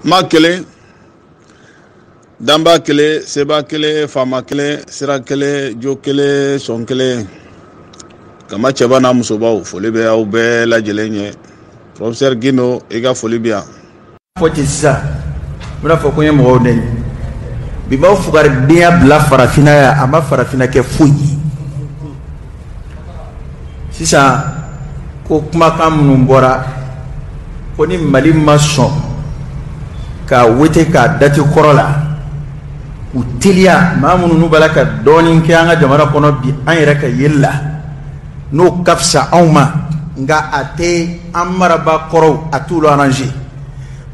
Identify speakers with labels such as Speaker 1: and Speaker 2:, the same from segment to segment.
Speaker 1: ma kelen danba kelen seba kelen faama kelen sira kelen jo kelen sɔn kelen kama cɛba n'a musobaw foli bɛ aw bɛɛ lajɛlen ye professeur gino i ka foli bɛ yan fɔ ten sisan
Speaker 2: n bɛna fɔ ko n ye mɔgɔw nɛni bi b'aw fugaridenya bila farafinna yan a ma farafinna kɛ foyi ye sisan ko kumakan minnu bɔra ko ni mali ma sɔn ka wete k'a dati kɔrɔ la u teliya maa minnu n'u b'a la ka dɔɔnin kɛ an ka jamana kɔnɔ bi an yɛrɛ ka yeli la n'o ka fisa anw ma nka a tɛ an marabaa kɔrɔw a t'olu arranger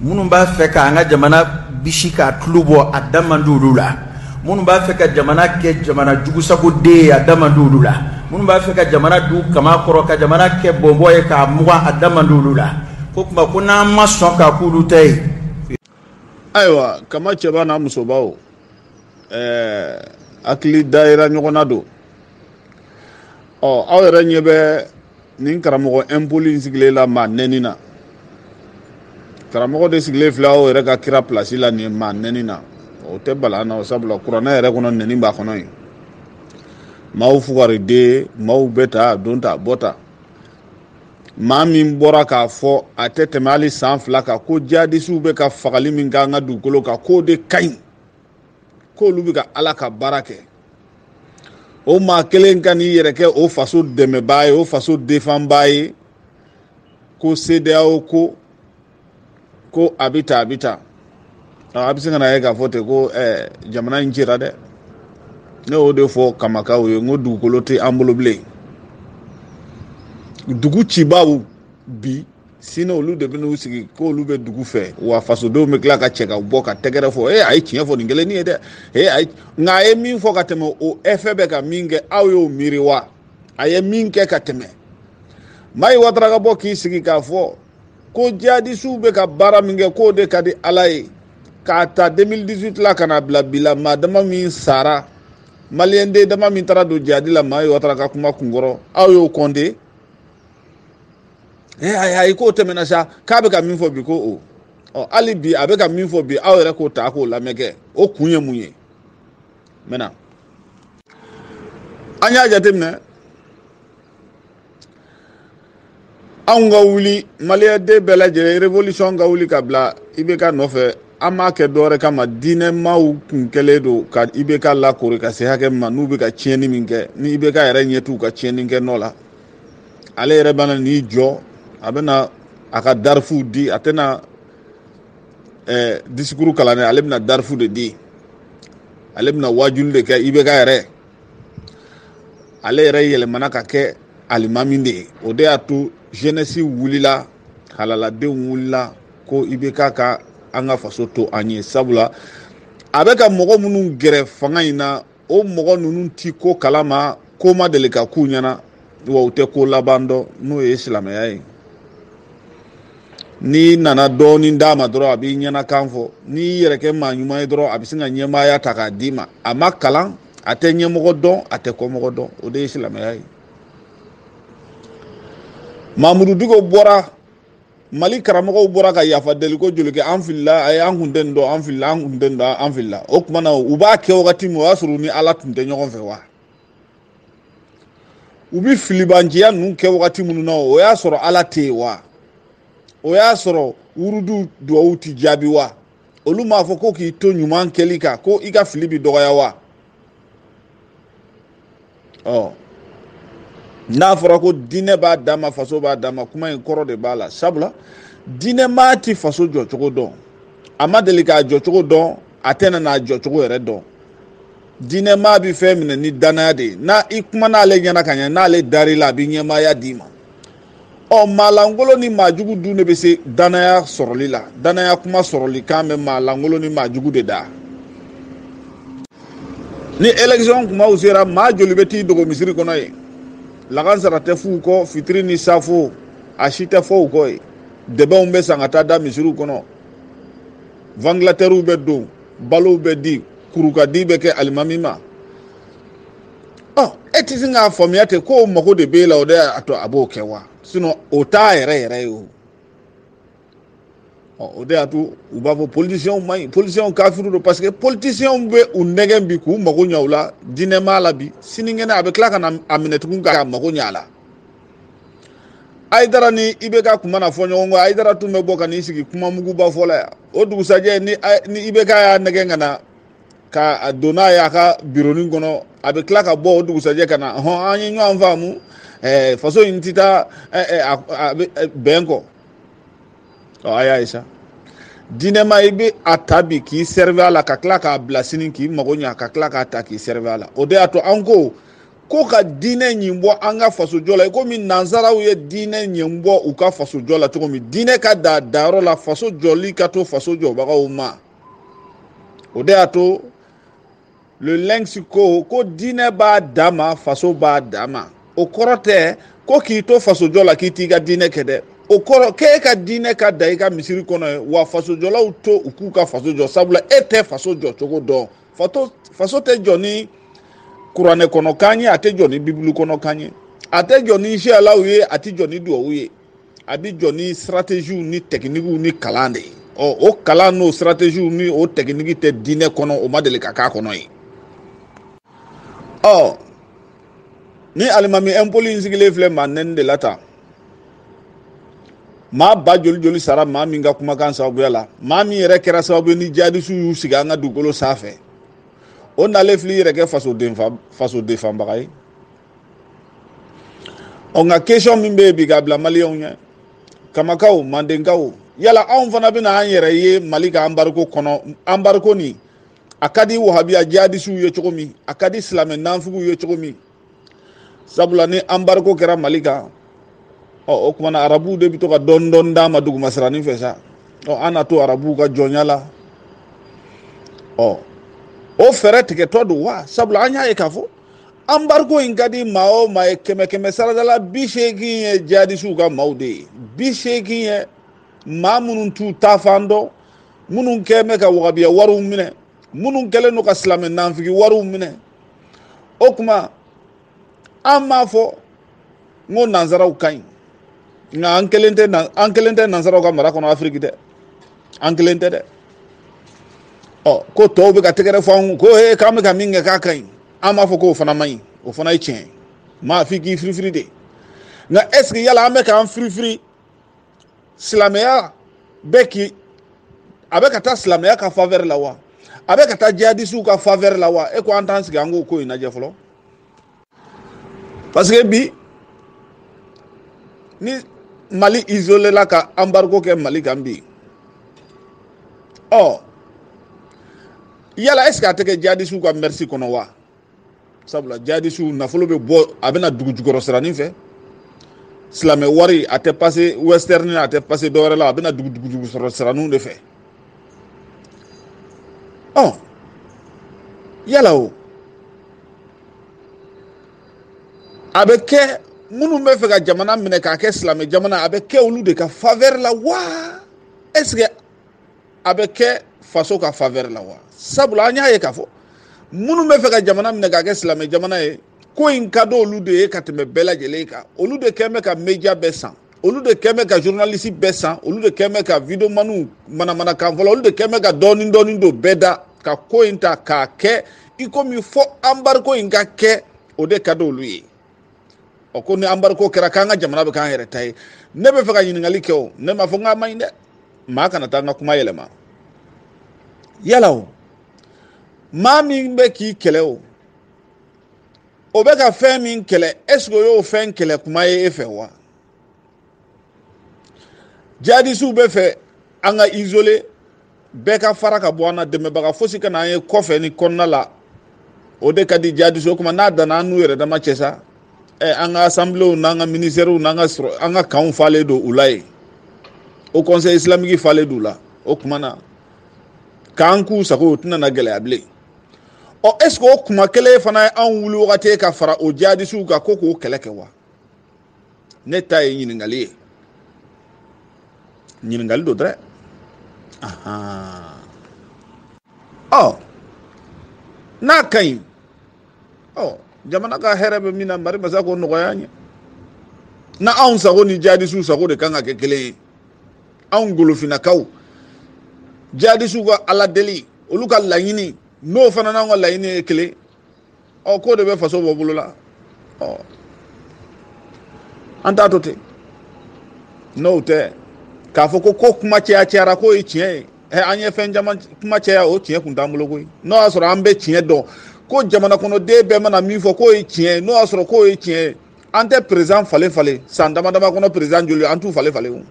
Speaker 2: minnu b'a fɛ ka an ka jamana bisi k'a tulu bɔ a da man di olu la minnu b'a fɛ ka jamana kɛ jamana jugusagoden ye a da man di olu la minnu b'a fɛ ka jamana don kaman kɔrɔ ka jamana kɛ bɔnbɔn ye k'a mugan a da man di olu la ko kuma ko n'an ma sɔn k'a k'olu ta ye ayiwa
Speaker 1: kama cɛba n'a musobaw ɛɛ hakili dayira ɲɔgɔn na don ɔ aw yɛrɛ ɲɛ bɛ nin karamɔgɔ impoli in sigilen la maa nɛni na karamɔgɔ de sigilen filɛ aw yɛrɛ ka kira pilasi la nin maa nɛni na o tɛ bala n na o sabula kuranɛ yɛrɛ kɔnɔ nɛni b'a kɔnɔ yen maaw fugariden maaw bɛ ta don ta bɔ ta maa min bɔra k'a fɔ a tɛ tɛmɛ hali san fila kan ko jihadisiw bɛ ka fagali min k'an ka dugukolo kan k'o de ka ɲi k'olu bɛ ka ala ka baara kɛ o maa kelen ka n'i yɛrɛ kɛ o faso dɛmɛbaa ye o faso defanbaa ye ko sedeyawo ko ko a bɛ ta a bɛ ta a bɛ se ka na ye k'a fɔ ten ko eh, jamana in cira dɛ ne y'o de fɔ kamakaw ye n ko dugukolo tɛ an bolo bilen dugu cibaaw bi sini olu de bɛ n'u sigi k'olu bɛ dugu fɛ wa fasodenw bɛ tila ka cɛ ka bɔ ka tɛgɛrɛ fɔ ee a ye tiɲɛ fɔ nin kelen nin ye dɛ ee a ye nka a ye min fɔ ka tɛmɛ o ɛfɛ bɛ ka min kɛ aw y'o miiri wa a ye min kɛ ka tɛmɛ mayi watara ka bɔ k'i sigi k'a fɔ ko jihadisiw bɛ ka baara min kɛ k'o de ka di ala ye k'a ta 2018 la ka na bila bi la maa dama min sara maliyɛn den dama min taara don jihadi la mayi watara ka kuma kunkɔrɔ aw y'o kɔnte ee ayi ayi k'o tɛmɛna sa k'a bɛ ka min fɔ bi ko o ɔ hali bi a bɛ ka min fɔ bi aw yɛrɛ k'o ta k'o lamɛn kɛ o kun ye mun ye maintenant an y'a jateminɛ anw ka wuli maliyɛnden bɛɛ lajɛlen revolution ka wuli ka bila ibk nɔfɛ an m'a kɛ dɔwɛrɛ kama diinɛmaw kun kɛlen don ka ibk lakori ka se hakɛ min ma n'u bɛ ka tiɲɛni min kɛ ni ibk yɛrɛ ɲɛ t'u ka tiɲɛni kɛ nɔ la ale yɛrɛ bɛna n'i jɔ a bɛna a ka darifu di a tɛna ɛɛ disikuru kalan dɛ ale bɛna darifu de di ale bɛna waajuli de kɛ ibk yɛrɛ ale yɛrɛ yɛlɛmana ka kɛ alimami de ye o de y'a to jenɛsi wulila halaladenw wulila ko ibk ka an ka faso to an ye sabula a bɛ ka mɔgɔ minnu gɛrɛ fanga in na o mɔgɔ ninnu ti ko kalama ko ma deli ka k'u ɲɛna wa u tɛ ko laban dɔn n'o ye silamɛya ye n'i nana dɔɔnin d'a ma dɔrɔn a b'i ɲɛnakan fɔ n'i yɛrɛ kɛ maa ɲuman ye dɔrɔn a bɛ sin ka ɲɛmaaya ta k'a d'i ma a ma kalan a tɛ ɲɛmɔgɔ dɔn a tɛ kɔmɔgɔ dɔn o de ye silamɛya ye mamudu diko bɔra mali karamɔgɔw bɔra ka yafa deli ko joli kɛ an filila a ye an kun tɛ nin dɔn an filila an kun tɛ nin dɔn an filila o tuma na u b'a kɛ wagati min o y'a sɔrɔ u ni ala tun tɛ ɲɔgɔn fɛ wa u bɛ filibanciya ninnu kɛ wagati minnu na o y'a sɔrɔ ala tɛ yen wa o y'a sɔrɔ wurudu duwawu tɛ jaabi wa olu m'a fɔ ko k'i to ɲuman kɛli kan ko i ka fili bɛ dɔgɔya wa ɔ n'a fɔra ko diinɛ b'a danma faso b'a danma kuma in kɔrɔ de b'a la sabula diinɛmaa ti faso jɔcogo dɔn a ma deli k'a jɔcogo dɔn a tɛna n'a jɔcogo yɛrɛ dɔn diinɛmaa bɛ fɛn minɛ ni danaya de ye n'a i kuman'ale ɲɛna ka ɲɛ n'ale dar'i la a bɛ ɲɛmaaya d'i ma ɔ maalankolon ni maajugu dun de bɛ se danaya sɔrɔli la danaya kuma sɔrɔli kan bɛ maalankolon ni maajugu de da ni election kumaw sera maa joli bɛ t'i dogo misiri kɔnɔ yen lakansara tɛ f'u kɔ fitiri ni safo a si tɛ fɔ u kɔ ye dɛbɛnw bɛ san ka taa da misiriw kɔnɔ vantilatɛriw bɛ don balow bɛ di kurukadi bɛ kɛ alimami ma e tɛ sin k'a faamuya ten ko mago de b'e la o de y'a to a b'o kɛ wa sinɔn o t'a yɛrɛ yɛrɛ ye o o de y'a to u b'a fɔ politisiyɛnw man ɲi politisiyɛnw kafiru don parce que politisiyɛnw bɛ u nɛgɛn bi k'u mago ɲɛ u la diinɛmaa la bi sinikɛnɛ a bɛ tila ka na a minɛ tugun k'a mago ɲɛ a la ayidara ni ibk kun mana fɔ ɲɔgɔn kɔ ayidara tun bɛ bɔ ka n'i sigi kuma muguba fɔ la yan o dugusajɛ ni ni ibk y'a nɛgɛn ka na ka don n'a ye a ka bironin kɔnɔ a bɛ tila ka bɔ o dugusajɛ ka na hɔn an ye ɲɔgɔn faamu ɛɛ faso in ti taa ɛɛ a bɛ bɛn kɔ ɔ a y'a ye sa diinɛmaa i bɛ a ta bi k'i servir a la ka tila k'a bila sini k'i mago ɲa ka tila k'a ta k'i servir a la o de y'a to an ko. ko ka diinɛ ɲin bɔ an ka fasojɔ la i komi nansaraw ye diinɛ ɲin bɔ u ka fasojɔ la cogo min diinɛ ka d'a dayɔrɔ la faso jɔli ka to faso jɔbagaw ma o de y'a to le lynx ko ko diinɛ b'a dan ma faso b'a dan ma o kɔrɔ tɛ ko k'i to fasojɔ la k'i t'i ka diinɛ kɛ dɛ o kɔrɔ k'e ka diinɛ ka da i ka misiri kɔnɔ ye wa fasojɔlaw to u k'u ka faso jɔ sabula e tɛ faso jɔ cogo dɔn faso tɛ jɔ ni kuranɛ kɔnɔ kan ye a tɛ jɔ ni bibulu kɔnɔ kan ye a tɛ jɔ ni ziyaraw ye a tɛ jɔ ni duwawu ye a bɛ jɔ ni sirateziw ni tɛkinikiw ni kalan de ye ɔ o kalan n'o sirateziw ni o tɛkiniki tɛ diinɛ kɔnɔ o ma deli ka k'a kɔnɔ ye ɔ ni alimami ɛnpoli in sigilen filɛ maa nɛni de la tan maa ba joli joli sara maa min ka kumakan sababuya la maa min yɛrɛ kɛra sababu ye ni jihadisiw y'u sigi an ka dugukolo sanfɛ o nalen fil'i yɛrɛ kɛ faso defanbaga ye ɔ nka kesɔn min bɛ yen bi k'a bila maliyɛnw ɲɛ kamakaw mandenkaw yala anw fana bɛna an yɛrɛ ye mali ka anbariko kɔnɔ anbariko nin a ka di wahabiya jihadisiw ye cogo min a ka di silamɛ nanfigiw ye cogo min sabula ni anbariko kɛra mali kan ɔ o kuma na arabuw de bɛ to ka dɔɔni dɔɔni d'a ma dugumasiranin fɛ sa ɔ an na to arabuw ka jɔnya la ɔ o fɛɛrɛ tigɛtɔ don wa sabula an y'a ye k'a fɔ anbariko in ka di maa o maa ye kɛmɛ kɛmɛ sarada la bi seegin ye jihadisiw ka maaw de ye bi seegin ye maa minnu t'u taafan dɔn minnu kɛlen bɛ ka wahabiya wariw minɛ minnu kɛlen don ka silamɛ nanfigi wariw minɛ o kuma an m'a fɔ n ko nansaraw ka ɲi nka an kelen tɛ an kelen tɛ nansaraw ka mara kɔnɔ afiriki dɛ an kelen tɛ dɛ ɔ ko tɔw bɛ ka tɛgɛrɛ fɔ an kun ko ee k'an bɛ ka min kɛ k'a ka ɲi an m'a fɔ k'o fana man ɲi o fana ye tiɲɛ ye maa f'i k'i firifiri de nka ɛseke yala an bɛ k'an firifiri silamɛya bɛ k'i a bɛ ka taa silamɛya ka favɛri la wa a bɛ ka taa jihadisiw ka favɛri la wa e ko an t'an sigi an k'o ko in lajɛ fɔlɔ parce que bi ni mali isolé la ka embargo kɛ mali kan bi ɔ yala est ce que a tɛ kɛ jihadisiw ka mɛrisi kɔnɔ wa sabula jihadisiw nafolo bɛ bɔ a bɛ na dugu jukɔrɔ siranin fɛ silamɛ wari a tɛ pase western a tɛ pase dɔwɛrɛ la a bɛ na dugu dugu jukɔrɔ siraninw de fɛ ɔ yala o a bɛ kɛ minnu b'a fɛ ka jamana minɛ k'a kɛ silamɛ jamana a bɛ kɛ olu de ka faveur la wa est ce que a bɛ kɛ faso ka favɛri la wa sabula an y'a ye k'a fɔ minnu bɛ fɛ ka jamana minɛ k'a kɛ silamɛ jamana ye ko in ka di olu de ye ka tɛmɛ bɛɛ lajɛlen kan olu de kɛn bɛ ka media bɛɛ san olu de kɛn bɛ ka journaliste bɛɛ san olu de kɛn bɛ ka videomaniw manamanakan fɔla olu de kɛn bɛ ka dɔɔni dɔɔni don bɛɛ da ka ko in ta k'a kɛ i komi fɔ anbariko in ka kɛ o de ka di olu ye ɔ ko ni anbariko kɛra k'an ka jamana bɛ k'an yɛrɛ ta ye ne bɛ fɛ ka ɲininkali kɛ o ne m'a fɔ n k'a man ɲi dɛ maa kana taa n ka kuma yɛlɛma yala o maa min bɛ k'i kɛlɛ o o bɛ ka fɛn min kɛlɛ ɛseke o y'o fɛn kɛlɛ kuma ye e fɛ wa jihadisiw bɛ fɛ an ka isoler bɛɛ ka fara ka bɔ an na dɛmɛbaga fosi kana an ye kɔfɛ ni kɔnɔna la o de ka di jihadisiw o kuma n'a danna an n'u yɛrɛ dama cɛ sa ɛ an ka asanbilew n'an ka minisitɛriw n'an ka sɔrɔ an ka kanw falen don u la yen haut conseil islamique falen don u la o kuma na k'an k'u sago o tɛna na gɛlɛya bilen ɔ ɛseke o kuma kelen fana ye anw wuli wagati ye ka fara o jihadisiw kan ko k'o kɛlɛ kɛ wa ne ta ye ɲininkali ye ɲininkali don dɛrɛ ɔ n'a ka ɲi ɔ jamana ka hɛrɛ bɛ min na mari masa k'o nɔgɔya an ye na anw sago ni jadisiw sago de kan ka kɛ kelen ye anw golofinakaw jadisiw ka ala deli olu ka laɲini n'o fana n'anw ka laɲini ye kelen ɔ k'o de bɛ faso bɔ bolo la ɔ an t'a to ten n'o tɛ k'a fɔ ko ko kuma caya cayara k'o ye tiɲɛ ye ɛ an ye fɛn caman kuma caya o tiɲɛ kun t'an bolo koyi n'o y'a sɔrɔ an bɛ tiɲɛ dɔn ko jamana kɔnɔden bɛɛ mana min fɔ k'o ye tiɲɛ ye n'o y'a sɔrɔ k'o ye tiɲɛ ye an tɛ perezan falen falen san dama dama kɔnɔ perezan joli an t'u falen falen o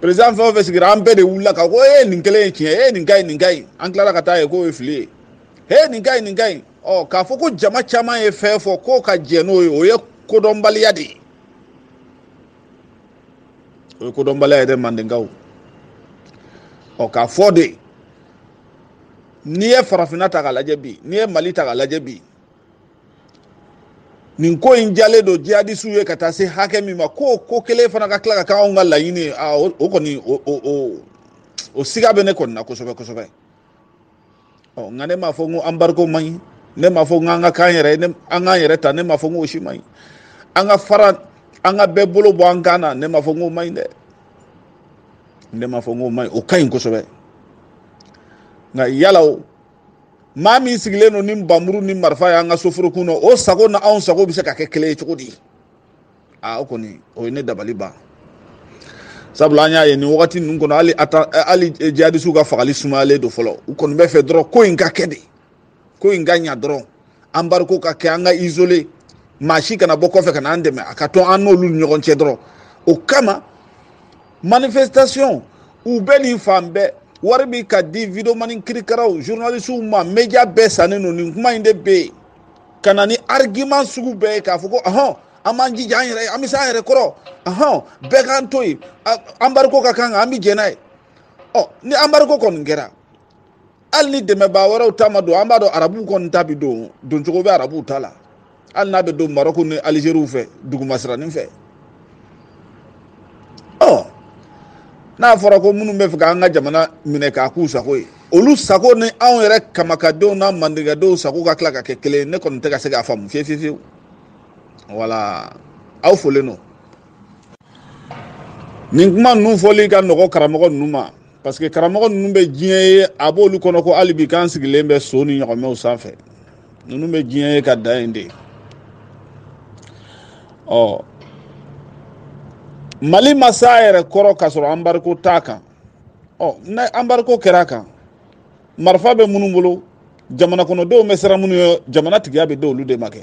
Speaker 1: perezan fɛn o fɛn sigira an bɛɛ de wulila ka ko e ye nin kelen ye tiɲɛ ye nin ka ɲi nin ka ɲi an tilala ka taa ye k'o ye fili ye he nin ka ɲi nin ka ɲi ɔ k'a fɔ ko jama caman ye fɛn fɔ k'o ka jɛ n'o ye o ye kodɔnbaliya de ye o ye kodɔnbaliya ye dɛ mandenkaw ɔ k'a fɔ de n'i ye farafinna ta k'a lajɛ bi n'i ye mali ta k'a lajɛ bi nin ko in diyalen don jihadisiw ye ka taa se hakɛ min ma k'o ko kelen fana ka tila ka kɛ anw ka laɲini ye o kɔni o siga bɛ ne kɔni na kosɛbɛ kosɛbɛ ɔ nka ne m'a fɔ n ko anbariko man ɲi ne m'a fɔ n ko an ka k'an k'an yɛrɛ ta ne m'a fɔ n ko o si man ɲi an ka fara an ka bɛɛ bolo bɔ an kan na ne m'a fɔ n ko o man ɲi dɛ ne m'a fɔ n ko o man ɲi o ka ɲi kosɛbɛ nka yala o maa min sigilen don ni nbamuru ni marifa y'an ka soforo kun na o sago na anw sago bɛ se ka kɛ kelen ye cogo di aa o kɔni o ye ne dabali ban sabula an y'a ye nin wagati ninnu kɔnɔ hali ata hali jihadisiw ka fagali sumayalen don fɔlɔ u kɔni bɛ fɛ dɔrɔn ko in ka kɛ de ko in ka ɲa dɔrɔn anbariko ka kɛ an ka isole maa si kana bɔ kɔfɛ ka na an dɛmɛ a ka to an n'olu ni ɲɔgɔn cɛ dɔrɔn o kama manifestation u bɛ nin fan bɛɛ wari bi ka di videomani kirikaraw journalisiw ma media bɛɛ sannen don nin kuma in de bɛ yen ka na ni argument sugu bɛɛ ye k'a fɔ ko ɔhɔn an b'an jija an yɛrɛ an bɛ se an yɛrɛ kɔrɔ ɔhɔn bɛɛ k'an to yen anbariko ka k'an kan an bɛ jɛn n'a ye ɔ ni anbariko kɔni kɛra hali ni dɛmɛbaa wɛrɛw ta ma don an b'a dɔn arabuw kɔni ta bɛ don doncogo bɛ arabuw ta la hali n'a bɛ don marɔku ni alizeri fɛ dugumasiranin fɛ ɔ n'a fɔra ko minnu bɛ fɛ k'an ka jamana minɛ k'a k'u sago ye olu sago ni anw yɛrɛ kamakadenw n'a mandenkadenw sago ka tila ka kɛ kelen ye ne kɔni tɛ ka se k'a faamu fiyewu fiyewu fiyewu wala aw folen don nin kuma ninnu fɔli ka nɔgɔ karamɔgɔ ninnu ma parce que karamɔgɔ ninnu bɛ diɲɛ ye a b'olu kɔnɔ ko hali bi k'an sigilen bɛ so ni ɲɔgɔmɛw sanfɛ ninnu bɛ diɲɛ ye ka da yen de ɔ mali ma s'a yɛrɛ kɔrɔ k'a sɔrɔ anbariko t'a kan ɔ ni anbariko kɛra a kan marifa bɛ minnu bolo jamana kɔnɔdenw bɛ siran minnu ɲɛ jamana tigiya bɛ di olu de ma kɛ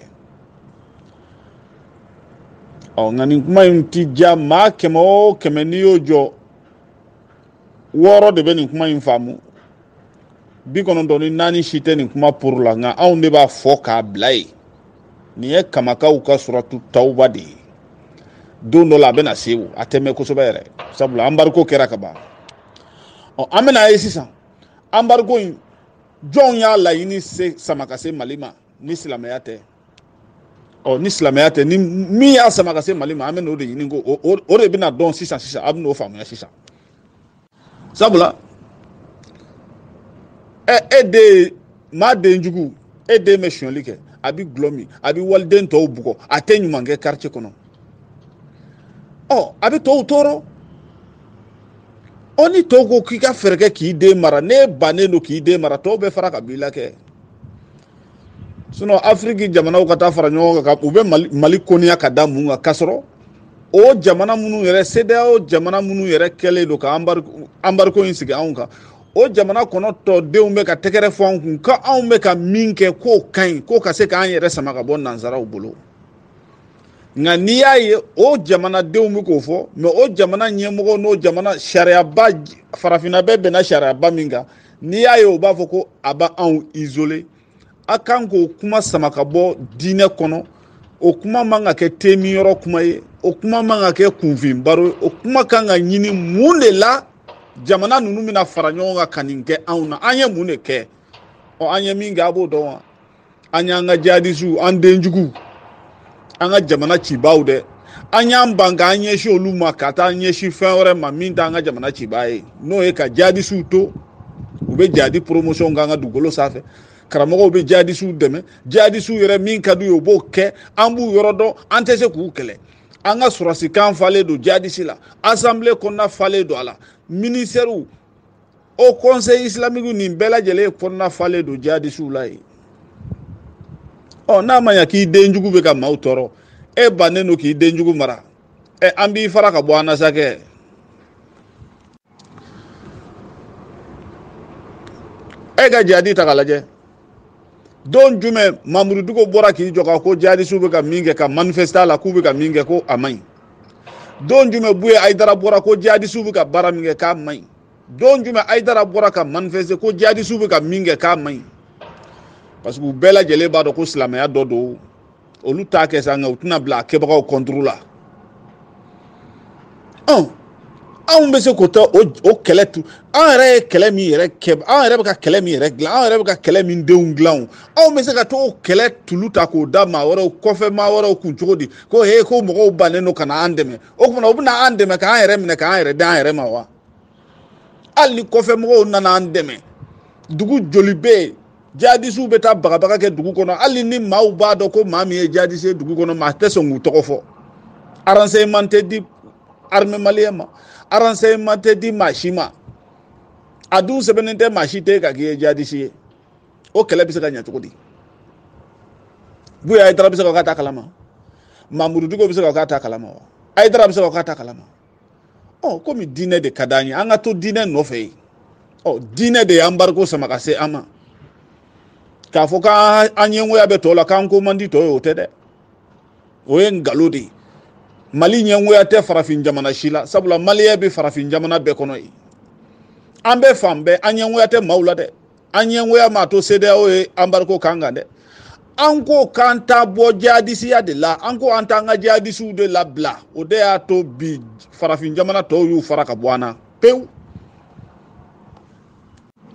Speaker 1: ɔ nka nin kuma in ti diya maa kɛmɛ o kɛmɛ n'i y'o jɔ wɔɔrɔ de bɛ nin kuma in faamu bi kɔnɔntɔn ni naani si tɛ nin kuma pour la nka anw de b'a fɔ k'a bila yen nin ye kamakaw ka suratu tawuba de ye don dɔ la a bɛna se o a tɛ mɛn kosɛbɛ yɛrɛ sabula anbariko kɛra ka ban ɔ an bɛn'a ye sisan anbariko in jɔnw y'a laɲini se sama ka se mali ma ni silamɛya tɛ ɔ ni silamɛya tɛ ni min y'a sama ka se mali ma an bɛn'o de ɲini ko o de bɛna dɔn sisan sisan a bɛn'o faamuya sisan sabula ɛ e den ye maa den jugu e den bɛ sonyali kɛ a bɛ gulɔ min a bɛ waliden tɔw bugɔ a tɛ ɲuman kɛ quartier kɔnɔ ɔ a bɛ tɔw tɔɔrɔ ɔ ni tɔw ko k'i ka fɛɛrɛ kɛ k'i den mara n'e bannen don k'i den mara tɔw bɛ fara ka b'i la kɛ. sinɔn afiriki jamanaw ka taa fara ɲɔgɔn kan u bɛ mali koniya ka da mun kan k'a sɔrɔ o jamana minnu yɛrɛ sedeyao jamana minnu yɛrɛ kɛlen don ka anbariko in sigi anw kan o jamana kɔnɔ tɔdenw bɛ ka tɛgɛrɛ fɔ anw kun ko anw bɛ ka min kɛ k'o ka ɲi k'o ka se k'an yɛrɛ sama ka bɔ nansaraw bolo nka n'i y'a ye o jamanadenw bɛ k'o fɔ mɛ o jamana ɲɛmɔgɔ n'o jamana sariyaba farafinna bɛɛ bɛnna sariyaba min kan n'i y'a ye u b'a fɔ ko a b'anw isoler a kan k'o kuma sama ka bɔ diinɛ kɔnɔ o kuma man ka kɛ tɛmɛyɔrɔ kuma ye o kuma man ka kɛ kunfin baro ye o kuma kan ka ɲini mun de la jamana ninnu bɛna fara ɲɔgɔn kan ka nin kɛ anw na an ye mun de kɛ ɔ an ye min kɛ a b'o dɔn wa an y'an ka jihadisiw an denjuguw an ka jamana cibaaw dɛ an y'an ban k'an ɲɛsin olu ma ka taa ɲɛsin fɛn wɛrɛ ma min t'an ka jamana cibaa ye n'o ye ka jihadisiw to u bɛ jihadi promotion k'an ka dugukolo sanfɛ karamɔgɔw bɛ jihadisiw dɛmɛ jihadisiw yɛrɛ min ka d'u ye u b'o kɛ an b'u yɔrɔ dɔn an tɛ se k'u kɛlɛ an ka sɔrɔdasikan falen don jihadisi la asanbile kɔnɔna falen don a la minisitɛriw haut conseil islamique nin bɛɛ lajɛlen kɔnɔna falen don jihadisiw la yen ɔ n'a ma ɲa k'i denjugu bɛ ka maaw tɔɔrɔ e bannen don k'i denjugu mara ɛ an b'i fara ka bɔ an na sa kɛ e ka jihadi ta k'a lajɛ don jumɛn mamudu diko bɔra k'i jɔ ka ko jihadisiw bɛ ka min kɛ ka manifeste a la k'u bɛ ka min kɛ ko a man ɲi don jumɛn buye ayidara bɔra ko jihadisiw bɛ ka baara min kɛ k'a man ɲi don jumɛn ayidara bɔra ka manifeste ko jihadisiw bɛ ka min kɛ k'a man ɲi parce que u bɛɛ lajɛlen b'a dɔn ko silamɛya dɔ don olu t'a kɛ sa nka u tɛna bila a kɛbagaw kɔnturu la ɔn anw bɛ se k'o tɛ o o kɛlɛ tu an yɛrɛ ye kɛlɛ min yɛrɛ kɛ an yɛrɛ bɛ ka kɛlɛ min yɛrɛ dilan an yɛrɛ bɛ ka kɛlɛ min denw dilan o anw bɛ se ka to o kɛlɛ tulu ta k'o da maa wɛrɛw kɔfɛ maa wɛrɛw kun cogo di ko he ko mɔgɔw bannen don ka na an dɛmɛ o kuma na u bɛna an dɛmɛ k'an yɛrɛ minɛ k'an yɛrɛ d'an yɛrɛ ma wa hali ni kɔfɛ mɔgɔw nana an dɛmɛ dugu joli bɛ yen jadisiw bɛ taa bagabaga kɛ dugu kɔnɔ hali ni maaw b'a dɔn ko maa min ye jadisi ye dugu kɔnɔ maa tɛ sɔn k'u tɔgɔ fɔ renseignement tɛ di armée maliyɛn ma renseignement tɛ di maa si ma a dun sɛbɛnnen tɛ maa si ten kan k'i ye jadisi ye o kɛlɛ bɛ se ka ɲɛ cogo di buye ayidara bɛ se ka k'a t'a kalama mamudu diko bɛ se ka k'a t'a kalama wa ayidara bɛ se ka k'a t'a kalama ɔ komi diinɛ de ka d'an ye an ka to diinɛ nɔfɛ yen ɔ diinɛ de y'anbariko sama ka se an ma k'a fɔ k'an ɲɛngoya bɛ tɔw la k'an ko man di tɔw ye o tɛ dɛ o ye nkalon de ye mali ɲɛngoya tɛ farafin jamana si la sabula maliyɛn bɛ farafin jamana bɛɛ kɔnɔ yen an bɛ fan bɛɛ an ɲɛngoya tɛ maaw la dɛ an ɲɛngoya m'a to CEDEAO ye embargo k'an kan dɛ an ko k'an tɛ bɔ jihadisiya de la an ko an t'an ka jihadisiw de labila o de y'a to bi farafin jamana tɔw y'u fara ka bɔ an na pewu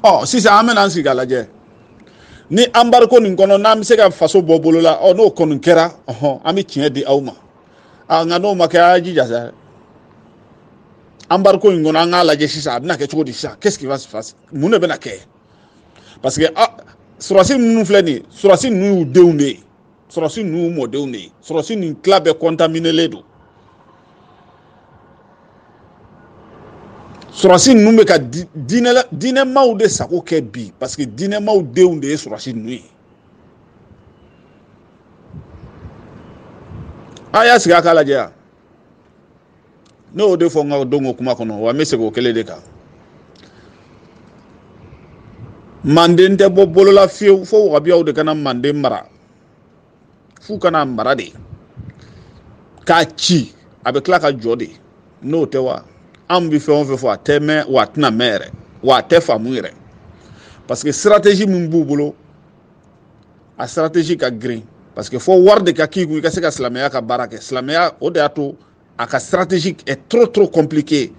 Speaker 1: ɔ sisan an bɛna an sigi ka lajɛ ni anbariko nin kɔnɔ n'an bɛ se ka faso bɔ bolo la ɔ n'o kɔni kɛra ɔhɔn an bɛ tiɲɛ di aw ma a nka n'o ma kɛ a y'a jija sa anbariko in kɔnɔ an k'a lajɛ sisan a bɛna kɛ cogo di sisan qu'est-ce qui va se passer mun de bɛna kɛ parce que a sɔrɔsi ninnu filɛ nin ye sɔrɔsi ninnu y'u denw de ye sɔrɔsi ninnu y'u mɔdenw de ye sɔrɔsi ninnu tila bɛɛ kɔntaminelen don sɔrɔsi ninnu bɛ ka diinɛ diinɛmaw de sago kɛ bi parce que diinɛmaw denw de ye sɔrɔsi ninnu ye a y'a sigi a k'a lajɛ yan ne y'o de fɔ n ka don ko kuma kɔnɔ wa n bɛ segin o kelen de kan manden tɛ bɔ bolo la fiyewu fo wahabiyaw de ka na manden mara f'u ka na a mara de k'a ci a bɛ tila ka jɔ de n'o tɛ wa anw bɛ fɛn o fɛn fɔ a tɛ mɛn wa a tɛna mɛn yɛrɛ wa a tɛ faamu yɛrɛ parce que stratégie min b'u bolo a stratégie ka girin parce que fo wari de ka k'i kun i ka se ka silamɛya ka baara kɛ silamɛya o de y'a to a ka stratégie est trop trop compliqué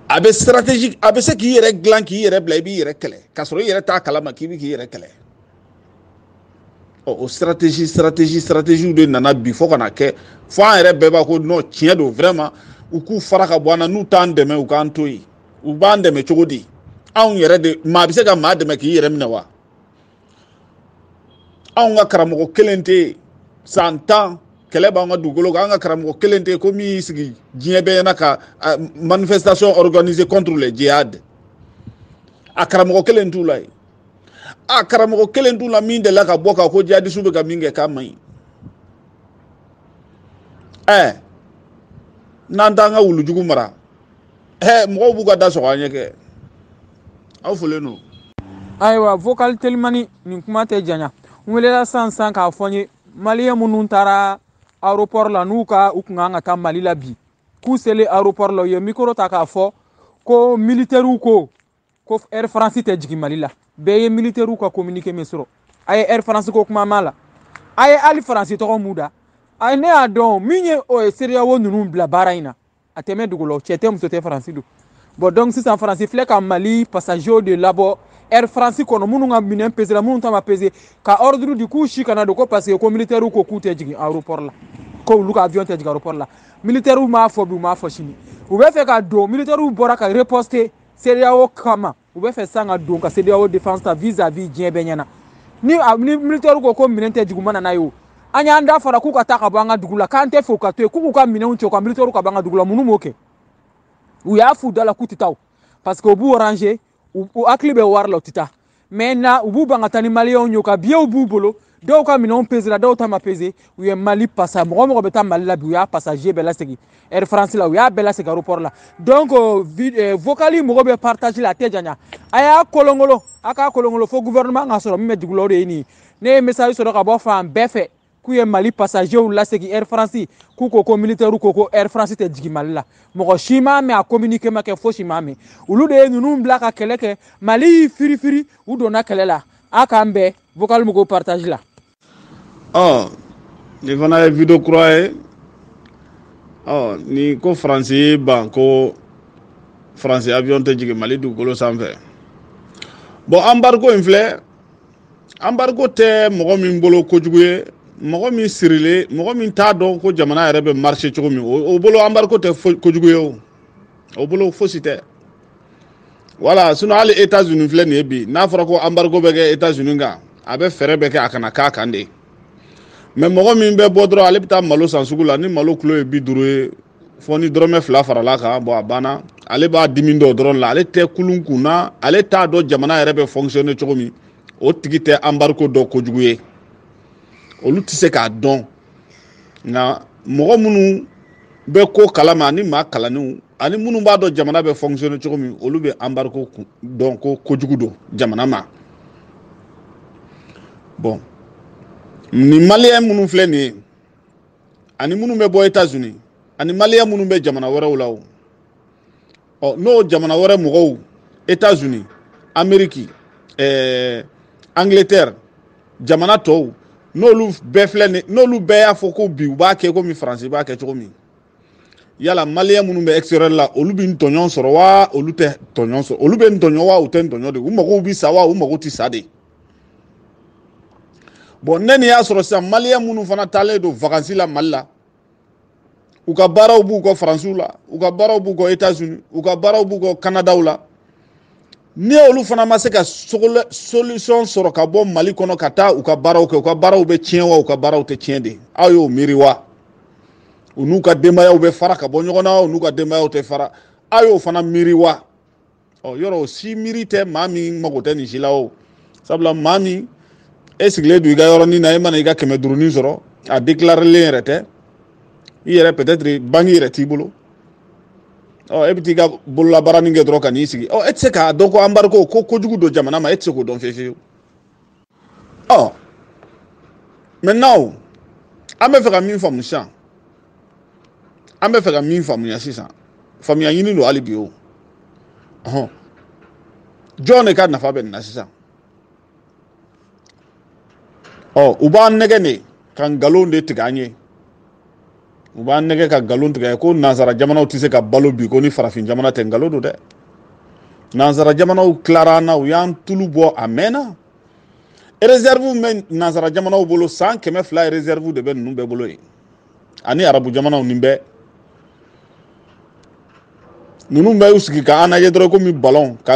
Speaker 1: a bɛ stratégie a bɛ se k'i yɛrɛ dilan k'i yɛrɛ bila i b'i yɛrɛ kɛlɛ k'a sɔrɔ i yɛrɛ t'a kalama k'i bɛ k'i yɛrɛ kɛlɛ ɔ o stratégie stratégie stratégie de nana bi fo ka na kɛ fo an yɛrɛ bɛɛ b'a ko non tiɲɛ don vraiment u k'u fara ka bɔ an na n'u t'an dɛmɛ u k'an to yen u b'an dɛmɛ cogo di anw yɛrɛ de maa bɛ se ka maa dɛmɛ k'i yɛrɛ minɛ wa anw ka karamɔgɔ kelen tɛ yen san tan kɛlɛ b'an ka dugukolo kan an ka karamɔgɔ kelen tɛ yen ko min y'i sigi diɲɛ bɛɛ ɲɛna ka manifestation organiser contre le djihad a karamɔgɔ kelen t'u la yen a karamɔgɔ kelen t'u la min delila ka bɔ ka ko jihadisiw bɛ ka min kɛ k'a man ɲi ɛɛ n'an t'an ka wulujugu mara hɛ mɔgɔw b'u ka da sɔgɔ an ɲɛ kɛ aw folen don ayiwa
Speaker 3: vocal telimani nin kuma tɛ janya n welela sisan sisan k'a fɔ n ye maliyɛn minnu taara aéroport la n'u ka u kun kan ka taa mali la bi k'u selen aéroport la u ye mikoro ta k'a fɔ ko militɛriw ko ko air france tɛ jigin mali la bɛɛ ye militɛriw ka communiqué min sɔrɔ a ye air france ko kuma mɛn a la a ye hali faransi tɔgɔ mɛn u da a ne y'a dɔn min ye o ye CEDEAO ninnu bila baara in na a tɛmɛ dugu la cɛ tɛ muso tɛ faransi don bon donc sisan faransi filɛ ka mali passagers de labɔ air france kɔnɔ minnu ka minɛn pesera minnu ta ma pese ka ordre di k'u si kana don ko parce que ko militɛriw ko k'u tɛ jigin aéroport la ko olu ka avion tɛ jigin aéroport la militɛriw m'a fɔ bi u m'a fɔ sini u bɛ fɛ ka don militɛriw bɔra ka riposter CEDEAO kama u bɛ fɛ san ka don ka CEDEAO défense ta vis à vis diɲɛ bɛɛ ɲɛna ni a ni militaire ko ko minɛn tɛ jigin u mana n'a ye o an y'an da fara k'u ka taa ka bɔ an ka dugu la k'an tɛ fɛ u ka to yen k'u k'u ka minɛnw cɛ u ka militaire ka bɔ an ka dugu la minnu b'o kɛ u y'a f'u da la k'u tɛ taa o parce que u b'u ranger u hakili bɛ wari la u tɛ taa maintenant u b'u ban ka taa ni maliyɛnw ye ka biyew b'u bolo dɔw ka minɛnw pesera dɔw ta ma pese u ye mali pasa mɔgɔ o mɔgɔ bɛ taa mali la bi u y'a pasaje bɛɛ lasegin air france la u y'a bɛɛ lasegin aéroport la donc euh, euh, vocali mɔgɔ bɛ partage la a tɛ janya a y'a kolonkolon a k'a kolonkolon fo gouvernement ka sɔrɔ min bɛ dugu la o de ye nin ye ne ye message sɔrɔ ka bɔ fan bɛɛ fɛ k'u ye mali pasajew lasegin air france k'u ko ko militɛriw ko ko air france tɛ jigin mali la mɔgɔ si m'a mɛn a communiqué ma kɛ fosi ma mɛn olu de ye ninnu bila ka kɛlɛ kɛ mali y'i firifiri u donna kɛlɛ la a k'an bɛɛ vocal mɔgɔ partage la
Speaker 1: ɔ nin fana ye video kura ye ɔ nin ko faransi y'i ban ko faransi avion tɛ jigin mali dugukolo sanfɛ bon anbariko in filɛ anbariko tɛ mɔgɔ min bolo kojugu ye mɔgɔ min sirilen mɔgɔ min t'a dɔn ko jamana yɛrɛ bɛ marcher cogo min o bolo anbariko tɛ kojugu ye o o bolo fosi tɛ voilà sinon hali etats unis filɛ nin ye bi n'a fɔra ko anbariko bɛ kɛ etats unis kan a bɛ fɛɛrɛ bɛɛ kɛ a kana k'a kan de mais mɔgɔ min bɛ bɔ dɔrɔn ale bɛ taa malo san sugu la ni malo kilo ye bi duuru ye fo ni dɔrɔmɛ fila farala a kan bon a banna ale b'a dimi dɔn dɔrɔn la ale tɛ kulun kun na ale t'a dɔn jamana yɛrɛ bɛ fonctionner cogo min o tigi tɛ embargo dɔn kojugu ye olu tɛ se k'a dɔn nka mɔgɔ minnu bɛ ko kalama ani maa kalannenw ani minnu b'a dɔn jamana bɛ fonctionner cogo min olu bɛ embargo dɔn ko kojugu don jamana ma bon nin maliyɛn minnu filɛ nin ye ani minnu bɛ bɔ etats unis ani maliyɛn minnu bɛ jamana wɛrɛw la o ɔ n'o jamana wɛrɛ mɔgɔw etats unis ameriki eh, angleterre jamana tɔw n'olu bɛɛ filɛ nin n'olu bɛɛ y'a fɔ ko bi u b'a kɛ komi faransi b'a kɛ cogo min yala maliyɛn minnu bɛ extérieur la olu bɛ tɔɲɔ sɔrɔ wa olu tɛ tɔɲɔ sɔrɔ olu bɛ tɔɲɔ wa u tɛ tɔɲɔ de u mago bɛ sa wa u mago tɛ sa de bon ne ni y'a sɔrɔ sisan maliyɛn minnu fana taalen don vakansi la mali la u ka baaraw b'u kɔ faransiw la u ka baaraw b'u kɔ etats unis u ka baaraw b'u kɔ kanadaw la ni olu fana ma se ka solution sɔrɔ ka bɔ mali kɔnɔ ka taa u ka baaraw kɛ u ka baaraw bɛ tiɲɛ wa u ka baaraw tɛ tiɲɛ de aw y'o miiri wa u n'u ka denbayaw bɛ fara ka bɔ ɲɔgɔn na u n'u ka denbayaw tɛ fara aw y'o fana miiri wa ɔ yɔrɔ o si miiri tɛ maa min mago tɛ nin si la o sabula maa min e sigilen don i ka yɔrɔnin na e mana i ka kɛmɛ duurunin sɔrɔ a déclarelen yɛrɛ tɛ i yɛrɛ peut-être banque yɛrɛ t'i bolo ɔ e bɛ t'i ka bololabaaranin kɛ dɔrɔn ka n'i sigi ɔ e tɛ se k'a dɔn ko anbariko ko kojugu don jamana ma e tɛ se k'o dɔn fiyewu fiyewu ɔ maintenant o an bɛ fɛ ka min faamu sisan an bɛ fɛ ka min faamuya sisan faamuya ɲini don hali bi o ɔhɔn jɔn de ka nafa bɛ nin na sisan ɔ u b'an nɛgɛn de ka nkalon de tigɛ an ye u b'an nɛgɛn ka nkalon tigɛ ko nansara jamanaw tɛ se ka balo bi ko ni farafin jamana tɛ nkalon don dɛ nansara jamanaw tilara an na u y'an tulu bɔ a mɛnna réserve bɛ nansara jamanaw bolo san kɛmɛ fila ye réserve de bɛ ninnu bɛɛ bolo yen ani arabu jamanaw nin bɛɛ ninnu bɛɛ y'u sigi ka an lajɛ dɔrɔn komi balɔn ka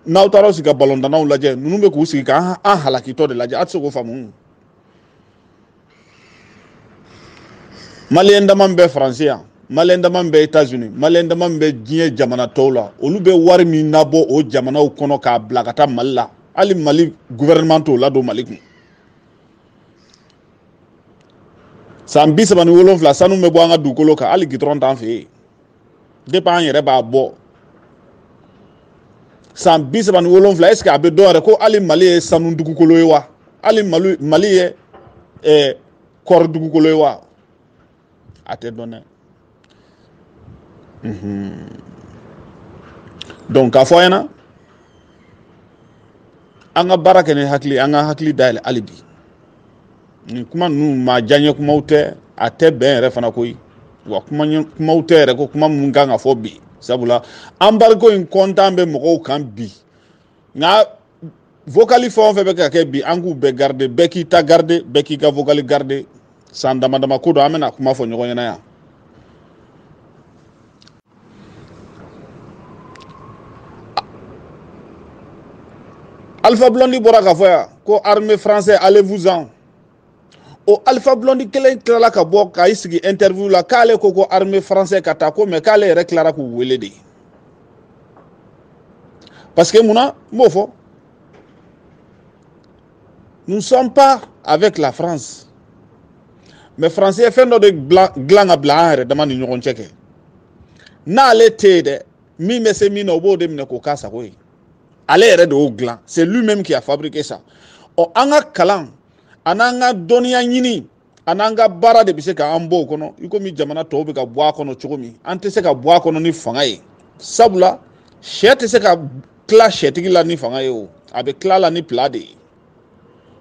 Speaker 1: n'aw taara sigi ka balɔntannaw lajɛ ninnu bɛ k'u sigi ka an halakitɔ de lajɛ a tɛ se k'o faamu maliyɛn dama min bɛ faransi yan maliyɛn dama min bɛ etazini maliyɛn dama min bɛ diɲɛ jamana tɔw la olu bɛ wari min nabɔ o jamanaw kɔnɔ k'a bila ka taa mali la hali mali gouvernement t'o ladon mali kun san bi saba ni wolonwula sanu bɛ bɔ an ka dugukolo kan hali gitɔrɔn t'an fɛ yen depi an yɛrɛ b'a bɔ san bi saba ni wolonwula est ce que a bɛ dɔn yɛrɛ ko hali mali ye sanu dugukolo ye wa hali mali ye eh, kɔɔri dugukolo ye wa a tɛ dɔn dɛ donc k'a fɔ an ɲɛna an ka baara kɛ ni hakili an ka hakili dayɛlɛ hali bi nin kuma ninnu maa diyaɲɛ kumaw tɛ a tɛ bɛn yɛrɛ fana koyi wa kumaw tɛ yɛrɛ ko kuma minnu kan ka fɔ bi sabula anbariko in kɔntan bɛ mɔgɔw kan bi nka vokali fɛn o fɛn bɛ ka kɛ bi an k'u bɛɛ garide bɛɛ k'i ta garide bɛɛ k'i ka vokali garide san dama dama kɔ don an bɛna kuma fɔ ɲɔgɔn ɲɛna yan Alpha Blondy bɔra k'a fɔ yan ko armée français allez vous en o Alpha Blondy kelen tilala ka bɔ ka i sigi interview la k'ale ko ko armée français ka taa ko mais k'ale yɛrɛ tilara k'u wele de parce que mun na n b'o fɔ nous ne sommes pas avec la France mais faransi ye fɛn dɔ de dilan ka bila an yɛrɛ dama ni ɲɔgɔn cɛ kɛ n'ale tɛ yen dɛ min bɛ se min na o b'o de minɛ k'o k'a sago ye ale yɛrɛ de y'o dilan c'est lui même qui a fabriqué ça ɔ an ka kalan an'an ka dɔnniya ɲini an'an ka baara de bɛ se k'an bɔ o kɔnɔ i komi jamana tɔw bɛ ka bɔ a kɔnɔ cogo min an tɛ se ka bɔ a kɔnɔ ni fanga ye sabula syɛ tɛ se ka tila syɛtigi la ni fanga ye o a bɛ tila la ni plan de ye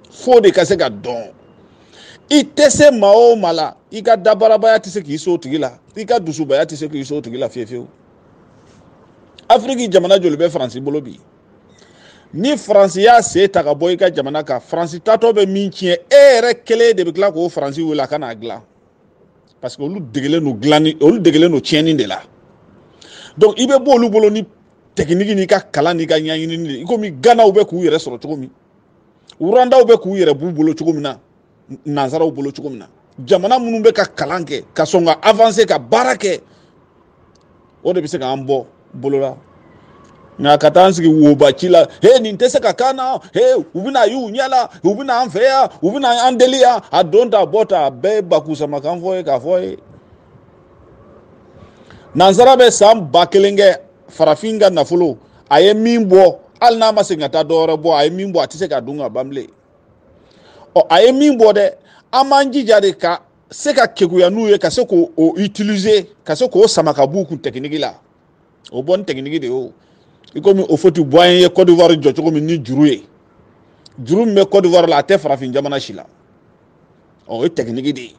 Speaker 1: fo de ka se ka dɔn i tɛ se maa o maa la i ka dabarabaya tɛ se k'i s'o tigi la i ka dusubaya tɛ se k'i s'o tigi la fiyewu fiyewu afiriki jamana joli bɛ faransi bolo bi ni faransi y'a sen ta ka bɔ i ka jamana kan faransi taatɔ bɛ min tiɲɛ e yɛrɛ kelen de bɛ tila k'o faransi wele a ka n'a dilan parce que olu degelen don dilanni olu degelen don tiɲɛni de la donc i bɛ bɔ olu bolo ni tɛkiniki n'i ka kalan n'i ka ɲɛɲinini de i komi ganaw bɛ k'u yɛrɛ sɔrɔ cogo min wurandaw bɛ k'u yɛrɛ b'u bolo cogo min na nanzaraw bolo cogo min na jamana minnu bɛ ka kalan kɛ ka sɔn ka avanse ka baara kɛ o de bɛ se k'an bɔ bolo la nka ka taa an sigi woba ci la he nin tɛ se ka k'an na he u bɛna y'u ɲɛ la u bɛna an fɛ yan u bɛna an deli yan a don ta bɔ ta a bɛɛ ye bakusamakan fɔ ye k'a fɔ ye nansara bɛ san ba kelen kɛ farafin ka nafolo a ye min bɔ hali n'a ma segin ka taa dɔwɛrɛ bɔ a ye min bɔ a tɛ se k'a dun ka ban bilen ɔ a ye min bɔ dɛ an b'an jija de ka se ka keguya n'u ye ka se k'o o utiliser ka se k'o sama ka b'u kun tɛkiniki la o bɔ ni tɛkiniki de ye o i komi Houphouët-Boigny ye Côte d'Ivoire jɔ cogo min ni juru ye juru min bɛ Côte d'Ivoire la a tɛ farafin jamana si la ɔ o ye tɛkiniki de ye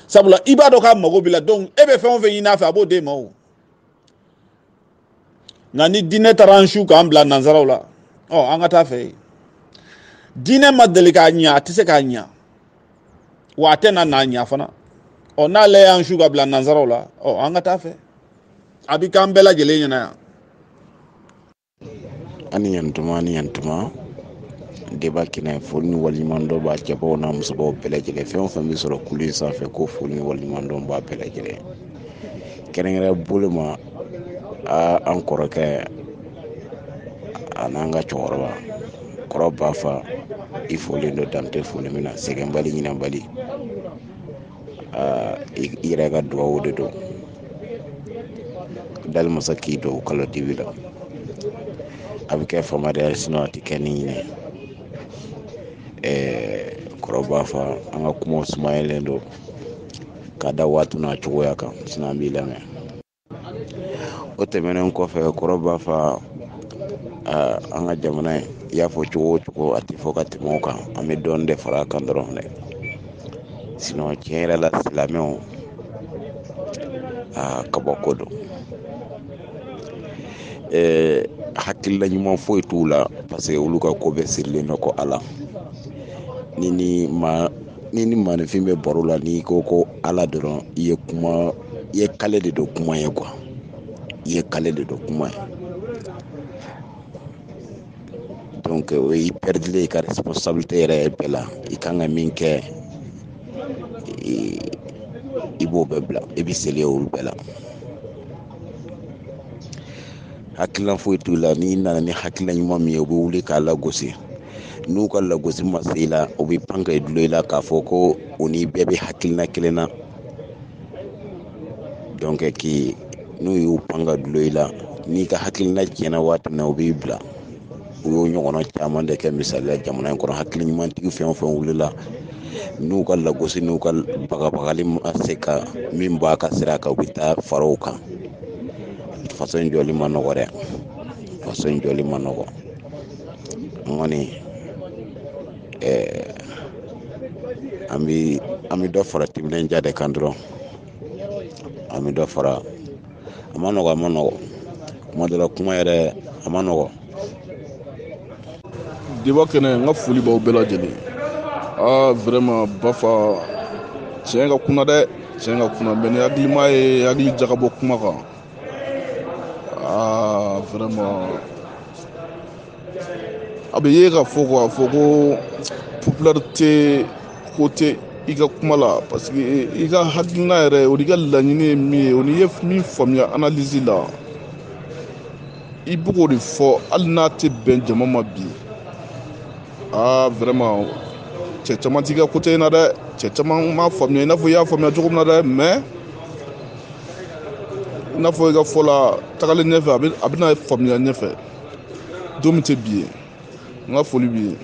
Speaker 1: sabula i b'a dɔn k'a mago b'i la donc e bɛ fɛn o fɛn ɲini a fɛ a b'o d'e ma o nka ni diinɛ taara an su k'an bila nanzaraw la ɔ an ka taa fɛ diinɛ ma deli ka ɲɛ a tɛ se ka ɲɛ wa a tɛna na ɲɛ fana ɔ n'ale y'an su ka bila nanzaraw la ɔ an ka taa fɛ a bɛ k'an bɛɛ lajɛlen ɲɛ na
Speaker 4: yan ani yantuma ani yantuma débat kɛnɛ foli ni waliɲuman dɔn b'a cɛbaw n'a musobaw bɛɛ lajɛlen fɛn o fɛn bɛ sɔrɔ kulu in sanfɛ ko foli ni waliɲuman dɔn b'a bɛɛ lajɛlen kɛrɛnkɛrɛnya bolo ma an kɔrɔkɛ an'an ka cɛkɔrɔba kɔrɔ bafa i folen don dan tɛ foli min na sɛgɛnbali ɲinabali i yɛrɛ ka dugawu de don dali masa k'i don kalo dibi la a bɛ kɛ fama de sinɔn a tɛ kɛ ni ɲinɛ kɔrɔ bafa an ka kuma sumayalen don ka da waati n'a cogoya kan sinɔn an b'i lamɛn o tɛmɛnen kɔfɛ kɔrɔ bafa an ka jamana ye i y'a fɔ cogo o cogo a tɛ fɔ ka tɛmɛ o kan an bɛ dɔɔnin de fara a kan dɔrɔn dɛ sinɔn tiɲɛ yɛrɛ la silamɛw aa kabako don ɛɛ hakilila ɲuman foyi t'u la parce que olu ka ko bɛɛ sirilen don ko ala ni ni ma ni ni maaninfin bɛ baro la n'i ko ko ala dɔrɔn i ye kuma i ye kale de don kuma ye quoi i ye kale de don kuma ye donc i pɛrɛdilen i ka responsabilité yɛrɛ ye bɛɛ la i kan ka min kɛ i b'o bɛɛ bila i bɛ seli olu bɛɛ la hakilina foyi t'u la n'i nana ni hakilina ɲuman min ye u bɛ wuli k'a lagosi n'u ka lagosi ma se i la u bɛ pan ka i dulon i la k'a fɔ ko u ni bɛɛ bɛ hakilina kelen na donc k'i n'u y'u pan ka dulon i la n'i ka hakilina tiɲɛna waati min na u b'i bila u y'o ɲɔgɔnna caman de kɛ misali la jamana in kɔnɔ hakili ɲumantigi fɛn o fɛn wulila n'u ka lagosi n'u ka bagabagali ma se ka min b'a ka sira kan u bɛ taa fara a kan faso in jɔli man nɔgɔ dɛ faso in jɔli man nɔgɔ n kɔni ɛɛ an bɛ an bɛ dɔ fara timinandiya de kan dɔrɔn an bɛ dɔ fara a man nɔgɔ a man nɔgɔ kuma dɔ la kuma yɛrɛ a man
Speaker 5: nɔgɔ diba kɛnɛ n ka foli b'aw bɛɛ lajɛlen aa vraiment bafa tiɲɛ ka kuna dɛ tiɲɛ ka kuna mais ni hakilima ye hakili jagabɔ kuma kan aa vraiment a bɛ ye ka fɔ k'a fɔ ko popularité ko tɛ i ka kuma la parce que i ka hakilina yɛrɛ o n'i ka laɲini ye min ye o n'i ye min faamuya analyse la i bɛ k'o de fɔ hali n'a tɛ bɛn jama ma bi aa vraiment cɛ caman t'i ka côté in na dɛ cɛ caman m'a faamuya i n'a fɔ i y'a faamuya cogo min na dɛ mais i n'a fɔ i ka fɔ la tagalen ɲɛfɛ a bɛna faamuya ɲɛfɛ don min tɛ bi ye n ka foli b'i ye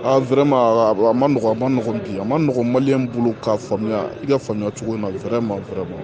Speaker 5: a vraiment a man nɔgɔn a man nɔgɔn bi a man nɔgɔn maliyɛn bolo k'a faamuya i ka faamuya cogo in na vraiment vraiment